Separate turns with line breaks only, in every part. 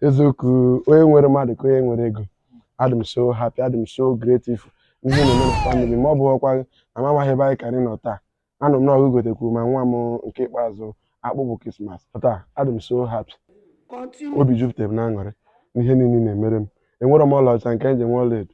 eziokwu onye nwere mmadụ ka onye nwere ego adị m so happy adị m so grateful ihe na-eme na famili ma ọ bụghị ọkwa na m amaghị ebe anyị kara ịnọ taa anụ m na ọ ga-egotekwuru ma nwa m nke ikpeazụ akpụbụ krismas taa adị m so happy obi jupụtara m na aṅụrị n'ihe niile na-emere m enwerọ m ọlaọcha nke m ji enwe ọlaedo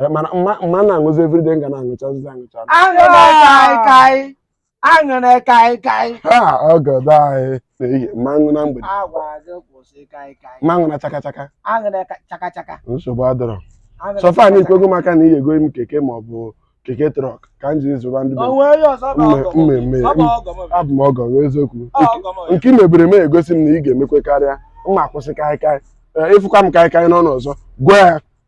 Eh, mana m ma m ma na-aṅụzi everyday m ga na-aṅụchazi aṅụcha aṅụrị
kaịkaị aṅụrị kaịkaị ha ọgọdọ
anyị n'ehihie m ma-aṅụ na mgbede agwa gị kwụsị kaịkaị m ma-aṅụ na chaka chaka aṅụrịka chakachaka nsogbu adịrọ so far na i kwego m aka na ị ya-egoro m keke ma ọ bụ keke trọk ka m jiri zụba ndị be m. o nwe onye ọzọ bụ Mme- ọgọ m. mmemme Ọ bụ ọgọ m. abụ m ọgọ gị eziokwu Ọ ọgọ m. nke i meburu m egosi m na ị ga-emekwe karịa m ma-akwụsị kaịkaị Ee, ị fụkwa m kaịkaị n'ọnụ ọzọ gwa ya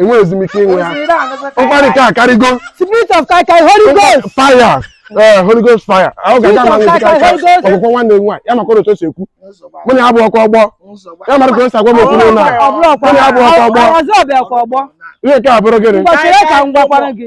enwe ezumike inwe ha nkwari ka akarịgo spirit of kai
kai holy ghost fire ee
holy ghost fire ahụ ga-aga ma ṅụzi kaịkaị ọgọ gwakwa nwanne m nwaanyị ya makwara otu o si ekwu mụ na ya abụrọkwa ọgbọ ya mara ka o si agwa m okwu n'ụlọ a mụ na ya abụrọkwa ọgbọ ihe nke a bụrụ gịnị Mgbachiri ka m gwakwara gị